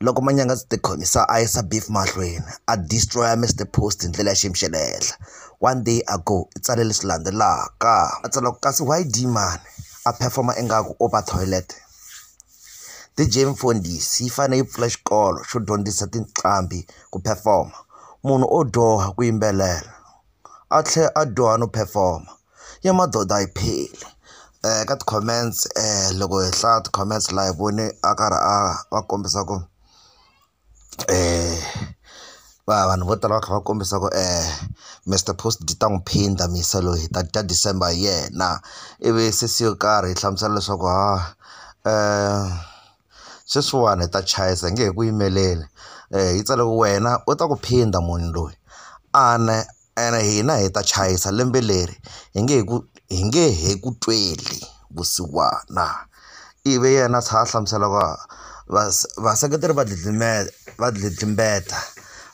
loko manyanga ndzi tikhomisa a yisa beef mahlweni a destroy-a Mister Post hi ndlela ya xiyimo xa le henhla one day ago i tsale leswi landzelaka a tsala ku kasi why Dee-man a perform-a ingaku u ba toilet D_J Mfundhisi yi fanele yi pfula xikolo xo dyondzisa tinqambi ku perform-a munhu o dyoha ku yimbelela. a tlhela a dyoha no perform-a ya madoda a yi pheli ka ti-comments loko hi hlaya ti-comments laha hi vone a karhi a va kombisa ku va vanhu vo tala va kha va kombisa ku Mister Post byi ta n'wi phinda Mr loyi hi ta dya December hi yena ivi sesi yo karhi yi hlamusela leswaku ha . sweswiwani hi ta chayisa hi nge he ku yimeleli yi tsale ku wena u ta ku phinda munhu loyi ene ene hina hi ta chayisa lembe leri hi nge he ku hi nge he ku tweli vusiwana ivi yena a tlhela a hlamusela ku vaseketeri va dlidlime va dlidlimbeta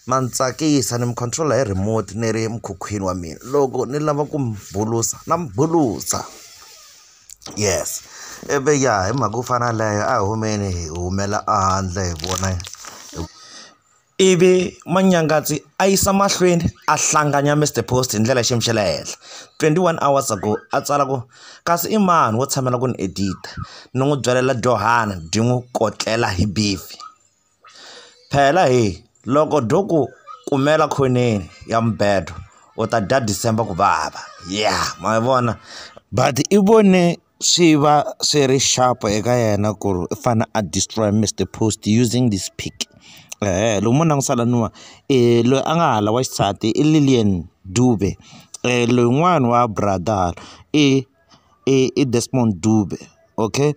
ma ni tsakisa ni mi control-a hi remote ni ri emukhukhwini wa mina loko ni lava ku mi bulusa na mi bulusa. yes i vi ya hi mhaka yo fana leyo a hi humeni hi humela ehandle hi vona ivi manyangatsi a yisa mahlweni a hlanganya Mister Post hi ndlela ya xiyimo xa le henhla twenty one hours ago a tsala ku kasi i mani wo tshamela ku ni edit-a ni n'wi byalela dyohana byi n'wi kotlela hi beef. Phela hi loko byo ku kumela khoneni ya mubedo u ta dya December ku vava ya ma yi vona but i vone swi va swi ri sharp eka yena ku ri u fanele a destroy Mister Post using this pic eeh loko mo langutisa laniwa i loyi a nga hala wa xisati i Lillian Dube lowun'wani wa brother hala i i Desmond Dube okay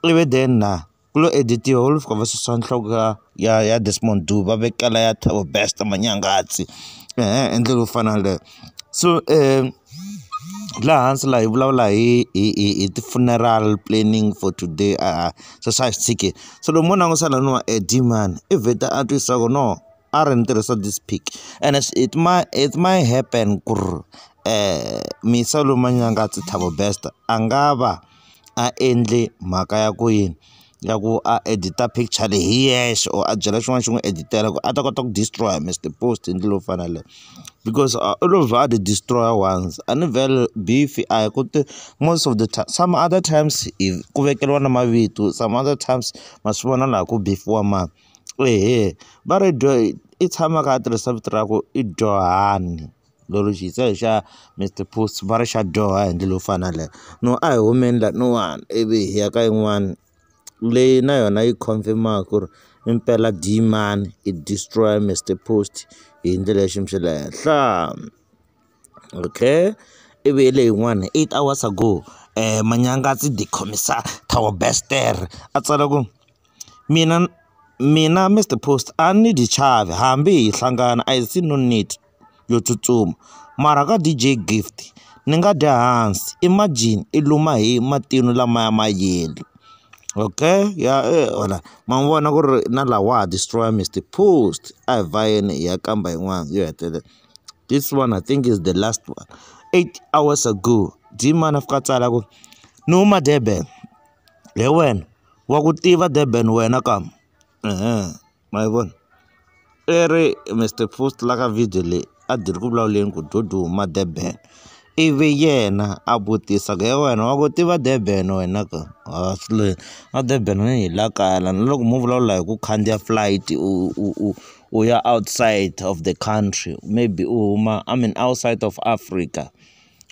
ivi then na. ku lo editiwa va lo fika va susa nhloko ya ya ya Desmond Duba va vekela ya Thabo Bester Manyangatsi ehe hi ndlela yo fana na yaleyo so laha hansi laha hi vulavula hi hi hi hi ti-funeral planning for today a swi swa hi swi tshiki se loko mo langutisa laniwa e Dee-man i vheta a twisisa ku no a ri ni tirhisa this pic ene it might it might happen ku ri Misa Lomanyangati Thabo Bester a nga va. a endle mhaka ya ku yini ya ku a edit-a picture leyi hi yexe or a byela xin'wana xi n'wi edit-ela ku a ta kota ku destroy-a Mister Post hi ndlela leyi faneleke because a u lo vha a ti destroy-a once a ni vhele Beef-i a hi ku ti most of the time some other times hi ku vekeriwa na mavito some other times ma swi vona laha ku beef-iwa mani eya va ri dyo i tshama a kha a tirhisa vito ra ku i Dyohani. Thekinoloji se hi xa Mister Post va ri xa dyoha hi ndlela yo fana na yaleyo. No a hi humeni lahawani ivi hi ya ka yin'wani leyi na yona yi confirm-aka ku ri impela dyi mani yi destroy-a Mister Post hi ndlela ya xiyimo xa le henhla. Okay ivi leyi yin'wana eight hours ago manyanga a ndzi ti khomisa Thabo Best a tsala ku mina mina Mister Post a ni dyi chavi hambi hi hlangana I see no need. yo tsutsuma mara ka D_J gift ni nga dya hansi imagine i luma hi matino lamaya ma yellow okay ya wena ma n'wi vona ku ri na laha wa ha destroy Mister post a hi vhayeni hi ya kamba yin'wana yo hetelela this one I think is the last one eight hours ago Dmani a fika a tsala ku ni huma Durban hi wena wa ku tiva Durban wena ka. Eeh ma yi voni i ri Mister Post la ka video leyi a byi ri ku vulavuleni ku byo duma Durban ivi yena a vutisa ku he wena wa ku tiva Durban wena ke haas le a Durban a hi la kaya la na loko mo vulavula hi ku khandziya flight u u u u ya outside of the country maybe u huma I mean outside of Africa.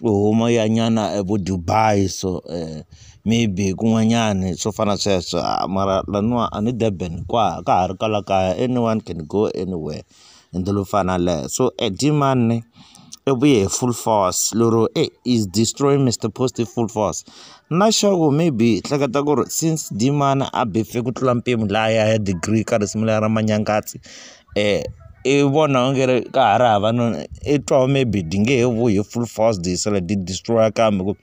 u huma u ya nyana vo Dubai so maybe kun'wanyani swo fana na sweswo mara laniwa a ni Durban ka ka ha ri kwala kaya anyone can go anywhere hi ndlela yo fana na yaleyo so a dyi mani i vuye hi full force lero e is destroy Mister Post hi full force na sure ku maybe hi hleketa ku ri since Dee-Mani a befe ku tlula mpimo laya ya degree ka risimu leriya ra Manyangatsi. i vona va nge ri ka ha ri hava no i twa maybe ti nge he vuyi hi full force ti sala ti destroy-a kambe ku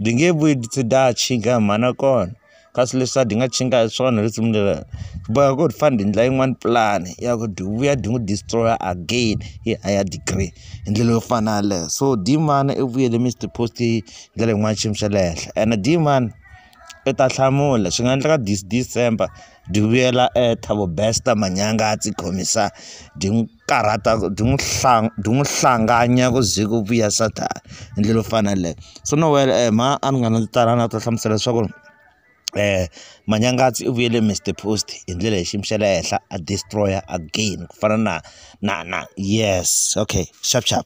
ti nge vuyi ti tlhe ta ha tshika hi mhana kona kasi leswa ti nga tshinga hi swona hi risimu leriya swi boheka ku ri ti fane ti endla yin'wani pulani ya ku ti vuya ti n'wi destroy-a again hi higher degree hi ndlela yo fana na yaleyo so Dmani i vuyele Mister Post hi ndlela yin'wani xiyimo xa le henhla ene Dmani i ta hlamula swi nga endleka this December. Duvuyela eh Thabo Bester manyanga a tsi khomisa di n'wi karhata di n'wi di n'wi hlanganya ku ze ku vuya sathana hi ndlela yo fana na yeleyo so no wena e mhani a ni nga na tala na ta hlamusela leswaku Manyangatsi u vuyele Mister Post hi ndlela ya xiyimo xa le henhla a destroy again ku fana na na na yes okay xap xap.